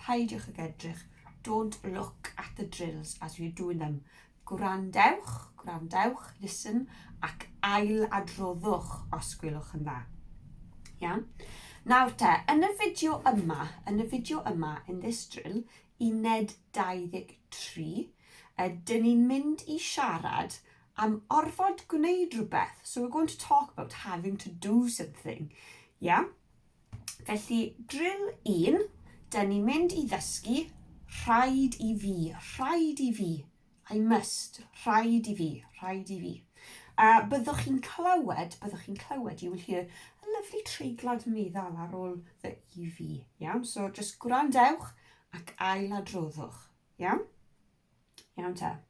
Peidiwch ag edrych, don't look at the drills as you're doing them. Gwrandewch, gwrandewch, listen, ac ailadroddwch os gwelwch yn dda. Iawn? Nawr te, yn y fideo yma, yn y fideo yma, in this drill, uned 23, ydyn ni'n mynd i siarad am orfod gwneud rhywbeth. So we're going to talk about having to do something. Yeah? Felly, drill un, dyn ni'n mynd i ddysgu rhaid i fi, rhaid i fi, I must, rhaid i fi, rhaid i fi. A byddwch chi'n clywed, byddwch chi'n clywed, you will hear a lovely treiglad meddal ar ôl fy i fi. Iawn, so just gwrandewch ac ail adroddwch. Iawn? Iawn te.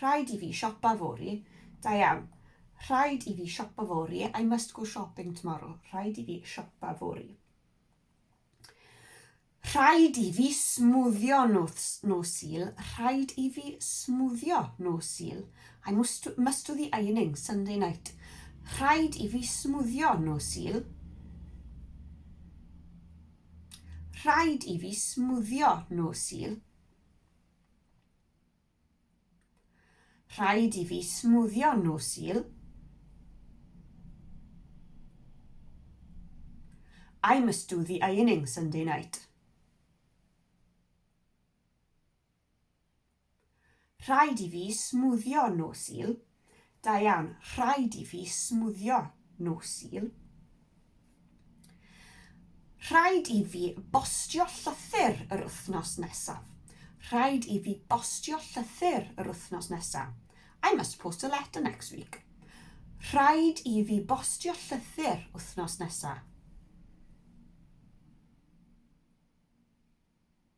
Rhaid i fi siopa fory. Da iawn. Rhaid i fi siopa fory. I must go shopping tomorrow. Rhaid i fi siopa fory. Rhaid i fi smwddio nos, nos Sul. Rhaid i fi smwddio nos Sul. I must, must do the ironing Sunday night. Rhaid i fi smwddio nos Sul. Rhaid i fi smwddio nos Sul. Rhaid i fi smwddio nhw, Sul. I must do the ironing Sunday night. Rhaid i fi smwddio nhw, Sul. Da iawn. Rhaid i fi smwddio nhw, Sul. Rhaid i fi bostio llythyr yr wythnos nesaf. Rhaid i fi bostio llythyr yr wythnos nesaf. I must post a letter next week. Rhaid i fi bostio llythyr wythnos nesaf.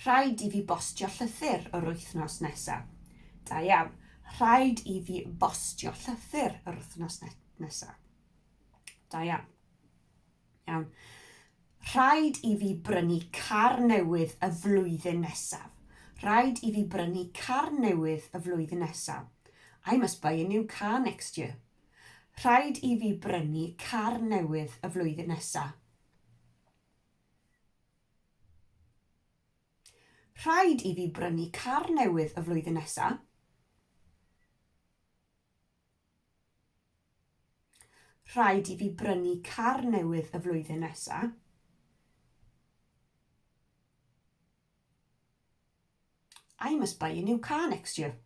Rhaid i fi bostio llythyr yr wythnos nesa. Da iawn. Rhaid i fi bostio llythyr yr wythnos ne nesa. Da iawn. Iawn. Rhaid i fi brynu car newydd y flwyddyn nesaf. Rhaid i fi brynu car newydd y flwyddyn nesaf. I must buy a new car next year. Rhaid i fi brynu car newydd y flwyddyn nesaf. Rhaid i fi brynu car newydd y flwyddyn nesa. Rhaid i fi brynu car newydd y flwyddyn nesa. I must buy a new car next year.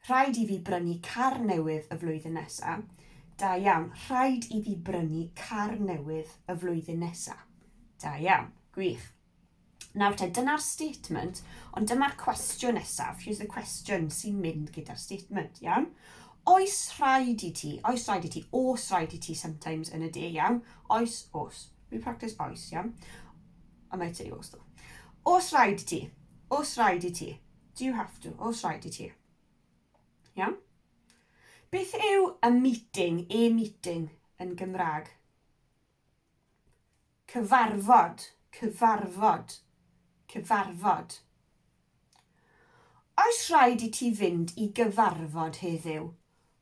Rhaid i fi brynu car newydd y flwyddyn nesa. Da iawn. Rhaid i fi brynu car newydd y flwyddyn nesa. Da iawn. Gwych. Nawr te, dyna'r statement, ond dyma'r cwestiwn nesaf, here's the question sy'n mynd gyda'r statement, iawn? Oes rhaid i ti, oes rhaid i ti, os rhaid i ti sometimes yn y de, iawn? Oes, os. We practice oes, iawn? I might say os though. Os rhaid i ti, os rhaid i ti. Do you have to? Os rhaid i ti. Iawn? Beth yw a meeting, a meeting yn Gymraeg? Cyfarfod, cyfarfod, cyfarfod. Oes rhaid i ti fynd i gyfarfod heddiw?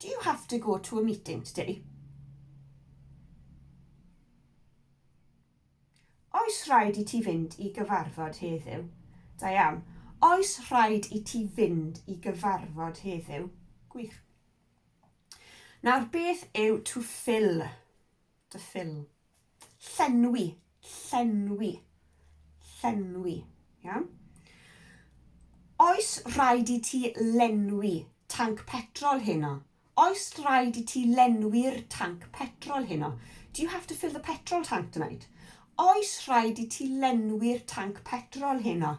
Do you have to go to a meeting today? Oes rhaid i ti fynd i gyfarfod heddiw? Diane, Oes rhaid i ti fynd i gyfarfod heddiw? Gwych. Nawr beth yw to fill? To fill. Llenwi, llenwi, llenwi. Iawn? Oes rhaid i ti lenwi tanc petrol heno? Oes rhaid i ti lenwi'r tanc petrol heno? Do you have to fill the petrol tank tonight? Oes rhaid i ti lenwi'r tanc petrol heno?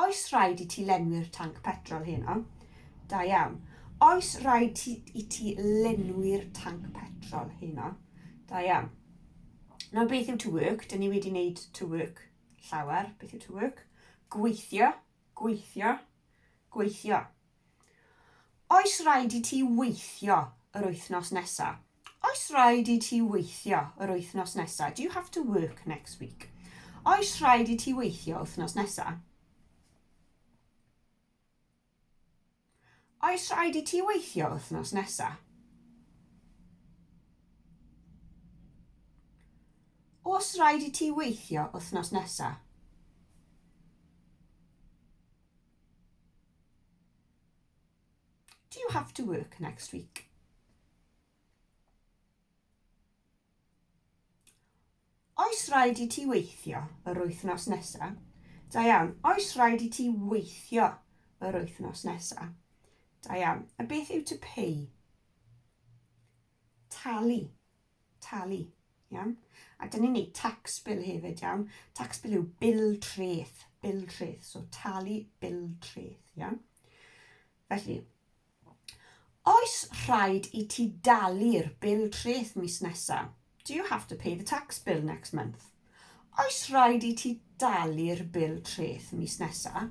Oes rhaid i ti lenwi'r tanc petrol heno? Da iawn. Oes rhaid ti, i ti lenwi'r tanc petrol heno? Da iawn. Nawr beth yw to work? Dyn ni wedi wneud to work llawer. Beth yw to work? Gweithio, gweithio, gweithio. Oes raid i ti weithio yr wythnos nesa? Oes raid i ti weithio yr wythnos nesa? Do you have to work next week? Oes raid i ti weithio wythnos nesa? Oes raid i ti weithio wythnos nesa? Oes raid i ti weithio wythnos nesa? Do you have to work next week? Oes rhaid i ti weithio yr wythnos nesaf? Da iawn. Oes rhaid i ti weithio yr wythnos nesaf? Da iawn. A beth yw to pay? talu, talu, iawn? A dyn ni'n neud tax bill hefyd, iawn? Tax bill yw bil treth, bil treth, so talu bil treth, iawn? Felly, oes rhaid i ti dalu'r bil treth mis nesaf? Do you have to pay the tax bill next month? Oes rhaid i ti dalu'r bil treth mis nesaf?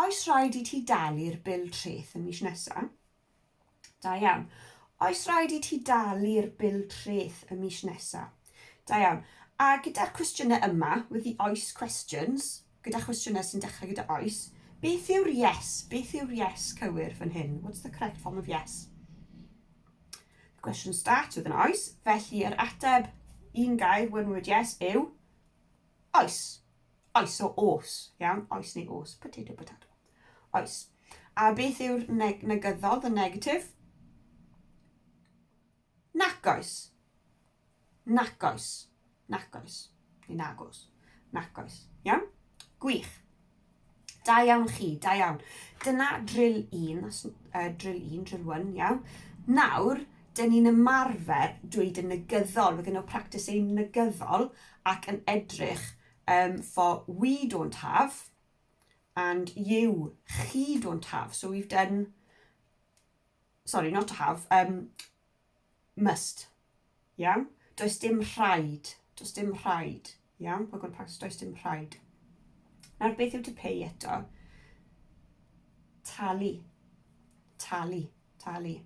Oes rhaid i ti dalu'r bil treth y mis nesa? Da iawn. Oes rhaid i ti dalu'r bil treth y mis nesa? Da iawn. A gyda'r cwestiynau yma, with the oes questions, gyda chwestiynau sy'n dechrau gyda oes, beth yw'r yes? Beth yw'r yes cywir fan hyn? What's the correct form of yes? The question starts with an oes, felly yr ateb, un gair, one word yes, yw oes. Oes o os, iawn? Oes neu os? Potato, potato. Oes. A beth yw'r neg negyddol, the negative? Nac oes. Nac oes. Nac oes. Neu nag os. Nac oes. Iawn? Gwych. Da iawn chi, da iawn. Dyna drill 1, uh, drill 1, drill 1, iawn. Nawr, dyn ni'n ymarfer dweud yn negyddol, we're going to practice ein negyddol ac yn edrych Um, for we don't have, and you, chi don't have. So we've done, sorry, not to have, um, must. Iawn? Does dim rhaid. Does dim rhaid. Iawn? We're going to practice does dim rhaid. Nawr beth yw to pay eto? Talu. Talu. Talu.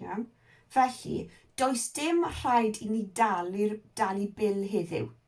Iawn? Felly, does dim rhaid i ni dalu, dalu bil heddiw.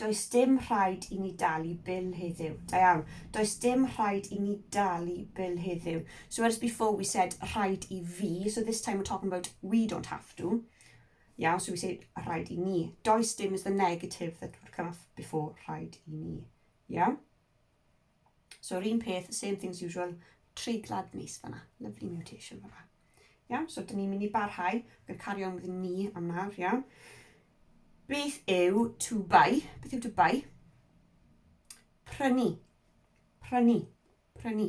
Does dim rhaid i ni dalu bil heddiw. Da iawn. Does dim rhaid i ni dalu bil heddiw. So whereas before we said rhaid i fi, so this time we're talking about we don't have to. Yeah, so we say rhaid i ni. Does dim is the negative that would come off before rhaid i ni. Yeah? So yr un peth, same things usual, treiglad neis fanna. Lovely mutation fanna. Iawn, so dyn ni'n mynd i barhau. Bydd carry on with ni am nawr, iawn. Beth yw to buy? Beth yw to buy? Prynu. Prynu. Prynu.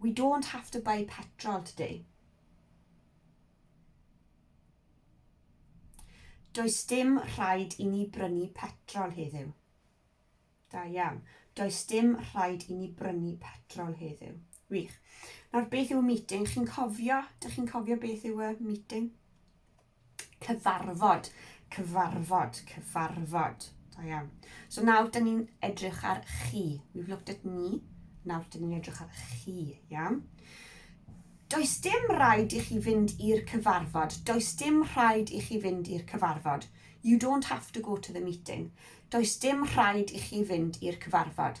We don't have to buy petrol today. Does dim rhaid i ni brynu petrol heddiw. Da iawn. Does dim rhaid i ni brynu petrol heddiw. Wych. Nawr, beth yw y meeting? Chi'n cofio? Dych chi'n cofio beth yw y meeting? Cyfarfod, cyfarfod, cyfarfod. Da iawn. So nawr, dyn ni'n edrych ar chi. We've looked at me. Nawr, dyn ni'n edrych ar chi. Iawn. Does dim rhaid i chi fynd i'r cyfarfod. Does dim rhaid i chi fynd i'r cyfarfod. You don't have to go to the meeting. Does dim rhaid i chi fynd i'r cyfarfod.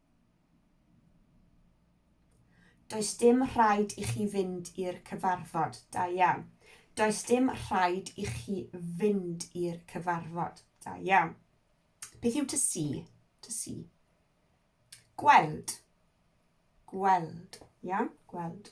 Does dim rhaid i chi fynd i'r cyfarfod. Da iawn. Does dim rhaid i chi fynd i'r cyfarfod. Da iawn. Beth yw to see? To see. Gweld. Gweld. Iawn, gweld.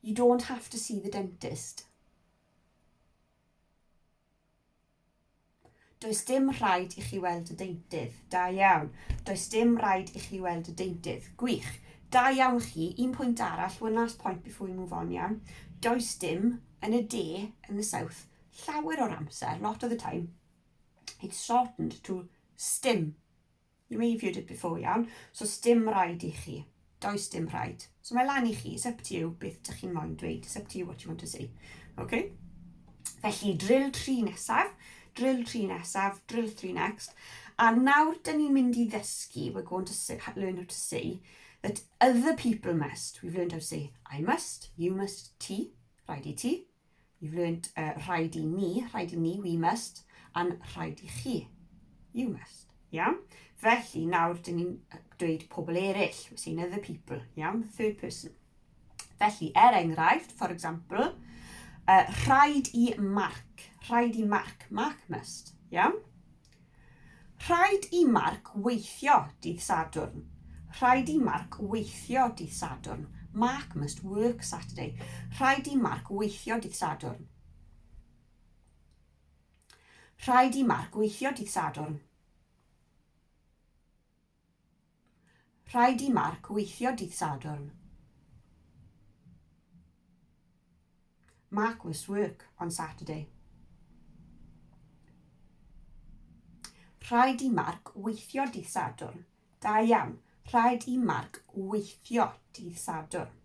You don't have to see the dentist. Does dim rhaid i chi weld y deintydd. Da iawn. Does dim rhaid i chi weld y deintydd. Gwych. Da iawn chi. Un pwynt arall, one last point before we move on, iawn. Does dim yn y de, yn the south, llawer o'r amser, lot of the time, it's shortened to stim. You reviewed it before, iawn? So, sdim rhaid i chi. Does dim rhaid. So mae lan i chi, it's up to you beth ydych chi'n moyn dweud, it's up to you what you want to say. Okay? Felly, drill 3 nesaf, drill 3 nesaf, drill 3 next. A nawr, dyn ni'n mynd i ddysgu, we're going to say, learn how to say, that other people must. We've learned how to say, I must, you must, ti, rhaid i ti, You've learnt uh, rhaid i ni, rhaid i ni, we must, and rhaid i chi, you must. Iawn? Felly, nawr, dyn ni'n dweud pobl eraill. We're saying other people. Iawn? Third person. Felly, er enghraifft, for example, uh, rhaid i Mark. Rhaid i Mark. Mark must. Iawn? Rhaid i Marc weithio dydd Sadwrn. Rhaid i Marc weithio dydd Sadwrn. Marc must work Saturday. Rhaid i Marc weithio dydd Sadwrn. Rhaid i Marc weithio dydd Sadwrn. Rhaid i Mark weithio dydd Sadwrn. Mark must work on Saturday. Rhaid i Mark weithio dydd Sadwrn. Da iawn. Rhaid i Mark weithio dydd Sadwrn.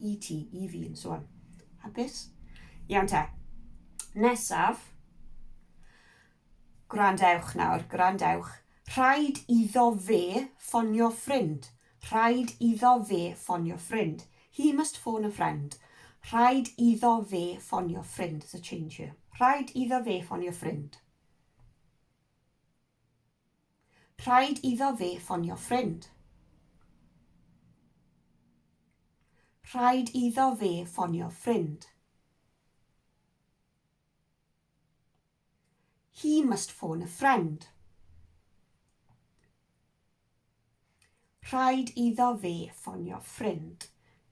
i ti, i fi, yn so on. Hapus? Iawn te. Nesaf, gwrandewch nawr, gwrandewch. Rhaid iddo fe ffonio ffrind. Rhaid iddo fe ffonio ffrind. He must phone a friend. Rhaid iddo fe ffonio ffrind. There's a change here. Rhaid iddo fe ffonio ffrind. Rhaid iddo fe ffonio ffrind. Rhaid iddo fe ffonio ffrind. He must phone a friend. Rhaid iddo fi ffonio ffrind.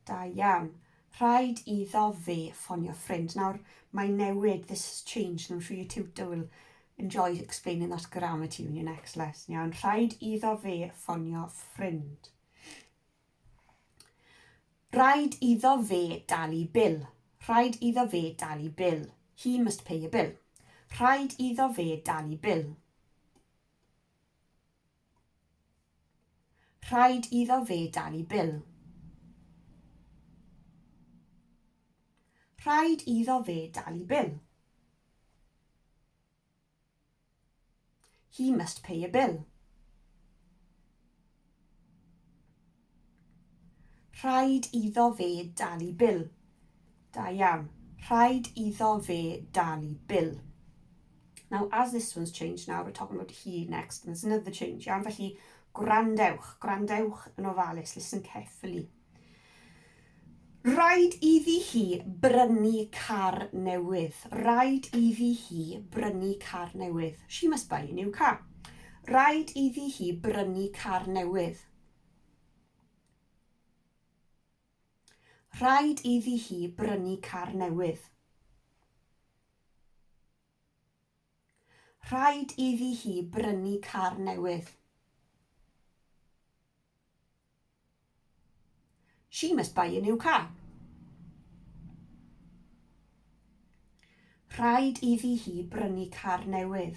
Da iawn. Rhaid iddo fi ffonio ffrind. Nawr, mae'n newid, this has changed, and I'm sure your tutor will enjoy explaining that grammar to you in your next lesson. Iawn, rhaid iddo fi ffonio ffrind. Rhaid iddo fe dalu bil. Rhaid iddo fe dalu bil. He must pay a bill. Rhaid iddo fe dalu bil. Rhaid iddo fe dalu bil. Rhaid iddo fe dalu bil. He must pay a bill. Rhaid iddo fe dalu bil. Da iawn. Rhaid iddo fe dalu bil. Now, as this one's changed now, we're talking about he next, and there's another change, iawn? Felly, gwrandewch, gwrandewch yn ofalus, listen carefully. Rhaid iddi hi brynu car newydd. Rhaid iddi hi brynu car newydd. She must buy a new car. Rhaid iddi hi brynu car newydd. Rhaid iddi hi brynu car newydd. Rhaid iddi hi brynu car newydd. She must buy a new car. Rhaid iddi hi brynu car newydd.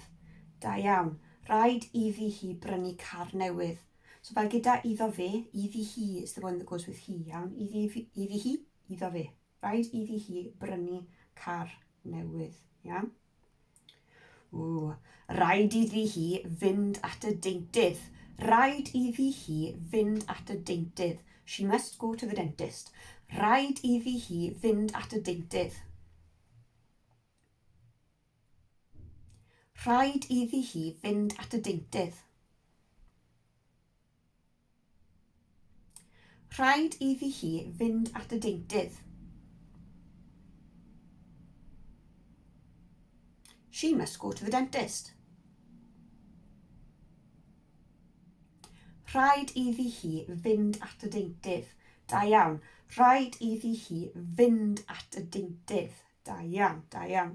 Da iawn. Rhaid iddi hi brynu car newydd. So fel gyda iddo fe, iddi hi is the one that goes with he, iawn? Iddi, iddi hi, iddo fe. Rhaid iddi hi brynu car newydd, iawn? Ww, rhaid iddi hi fynd at y deintydd. Rhaid iddi hi fynd at y deintydd. She must go to the dentist. Rhaid iddi hi fynd at y deintydd. Rhaid iddi hi fynd at y deintydd. Rhaid iddi hi fynd at y deintydd. She must go to the dentist. Rhaid iddi hi fynd at y deintydd. Da iawn. Rhaid iddi hi fynd at y deintydd. Da iawn, da iawn.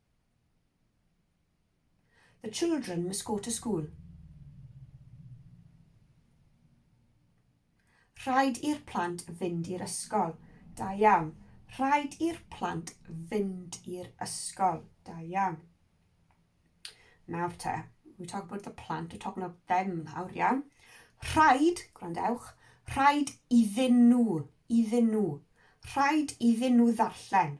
The children must go to school. Rhaid i'r plant fynd i'r ysgol. Da iawn. Rhaid i'r plant fynd i'r ysgol. Da iawn. Nawr te, we talk about the plant, we're talking about them nawr, iawn. Rhaid, gwrandewch, rhaid iddyn nhw, iddyn nhw. Rhaid iddyn nhw ddarllen.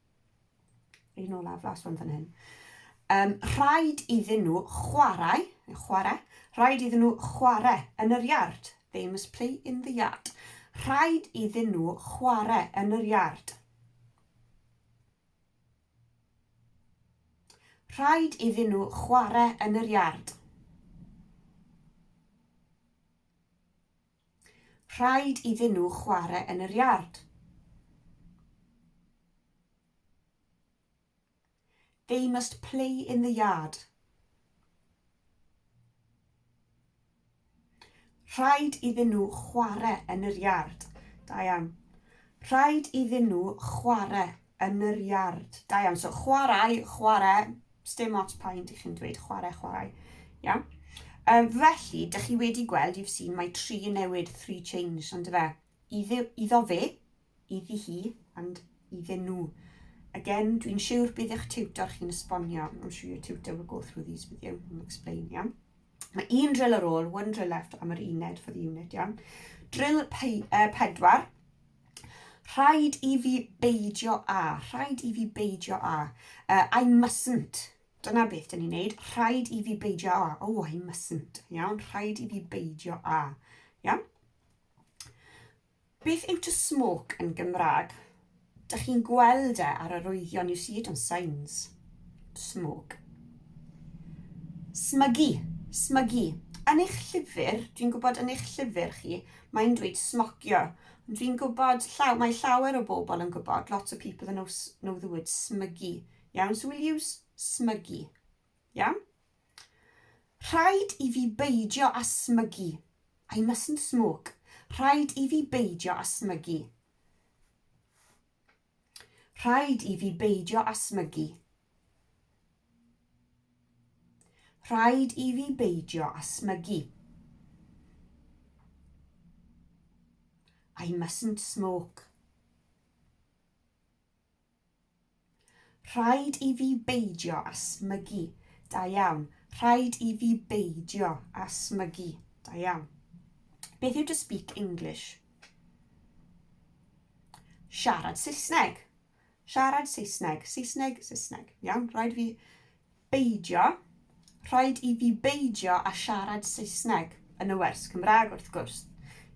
Un olaf, last one fan hyn. Um, rhaid iddyn nhw chwarae, chwarae, rhaid iddyn nhw chwarae yn yr iard. They must play in the yard. Rhaid iddyn nhw chwarae yn yr iard. Rhaid iddyn nhw chwarae yn yr iard. Rhaid iddyn nhw chwarae yn yr iard. They must play in the yard. Rhaid iddyn nhw chwarae yn yr iard. Da iawn. Rhaid iddyn nhw chwarae yn yr iard. Da iawn. So chwarae, chwarae, Sdim ots pa un dych chi'n dweud, chwarae, chwarae. Iawn? Um, felly, dych chi wedi gweld, you've seen, mae tri yn newid, three changed, ond fe. Iddi, iddo fe, iddi hi, and iddyn nhw. Again, dwi'n siwr bydd eich tiwtor chi'n esbonio. I'm sure your tutor will go through these with you and explain, iawn? Mae un drill ar ôl, one drill left, am yr uned for the unit, iawn? Drill pe, uh, pedwar, Rhaid i fi beidio â, rhaid i fi beidio â. Uh, I mustn't. Dyna beth dyn ni'n neud. Rhaid i fi beidio â. Oh, I mustn't. Iawn, rhaid i fi beidio â. Iawn? Beth yw to smoke yn Gymraeg? Dych chi'n gweld e ar yr oeddion, you see it on signs. To smoke. Smygu, smygu. Yn eich llyfr, dwi'n gwybod yn eich llyfr chi, mae'n dweud smocio. Fi'n gwybod, llaw, mae llawer o bobl yn gwybod, lots of people that know, know the word smygu. Iawn, so we'll use smygu. Iawn? Rhaid i fi beidio a smygu. I mustn't smoke. Rhaid i fi beidio a smygu. Rhaid i fi beidio â smygu. Rhaid i fi beidio â smygu. I mustn't smoke. Rhaid i fi beidio â smygu. Da iawn. Rhaid i fi beidio â smygu. Da iawn. Beth yw to speak English? Siarad Saesneg. Siarad Saesneg. Saesneg, Saesneg. Iawn, rhaid fi beidio. Rhaid i fi beidio a siarad Saesneg yn y wers Cymraeg wrth gwrs.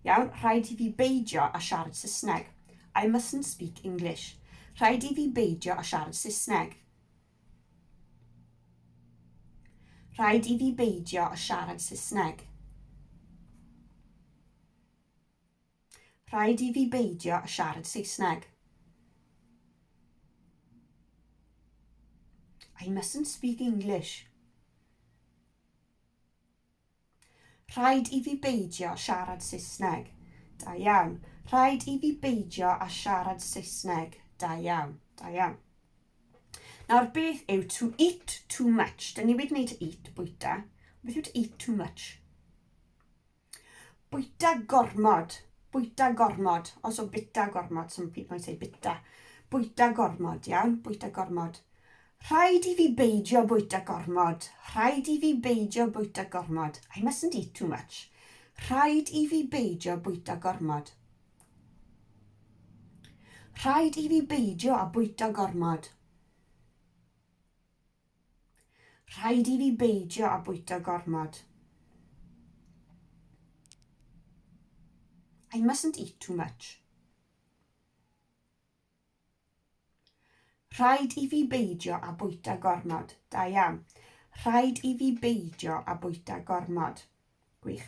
Iawn, rhaid i fi beidio a siarad Saesneg. I mustn't speak English. Rhaid i fi beidio a siarad Saesneg. Rhaid i fi beidio a siarad Saesneg. Rhaid i fi beidio â siarad Saesneg. I mustn't speak English. Rhaid i fi beidio â siarad Saesneg. Da iawn. Rhaid i fi beidio â siarad Saesneg. Da iawn. Da iawn. Nawr, beth yw to eat too much? Dyn ni wedi gwneud to eat, bwyta. Beth yw to eat too much? Bwyta gormod. Bwyta gormod. Also bita gormod. Some people might say bita. Bwyta gormod, iawn? Bwyta gormod. Rhaid i fi beidio bwyta gormod. Rhaid i fi beidio bwyta gormod. I mustn't eat too much. Rhaid i fi beidio bwyta gormod. Rhaid i fi beidio a bwyta gormod. Rhaid i fi beidio â bwyta gormod. I mustn't eat too much. Rhaid i fi beidio â bwyta gormod. Da iawn. Rhaid i fi beidio â bwyta gormod. Gwych.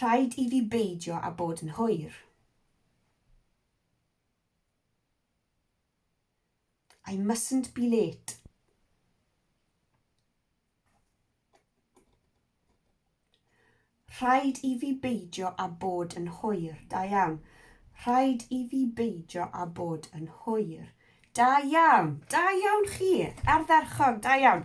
Rhaid i fi beidio â bod yn hwyr. I mustn't be late. Rhaid i fi beidio â bod yn hwyr. Da iawn. Rhaid i fi beidio â bod yn hwyr. Da iawn. Da iawn chi. Ardderchog. Da iawn.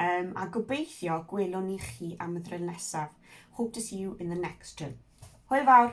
Yym a gobeithio gwelwn ni chi am y ddryl nesaf. Hope to see you in the next drill. Hwyl fawr!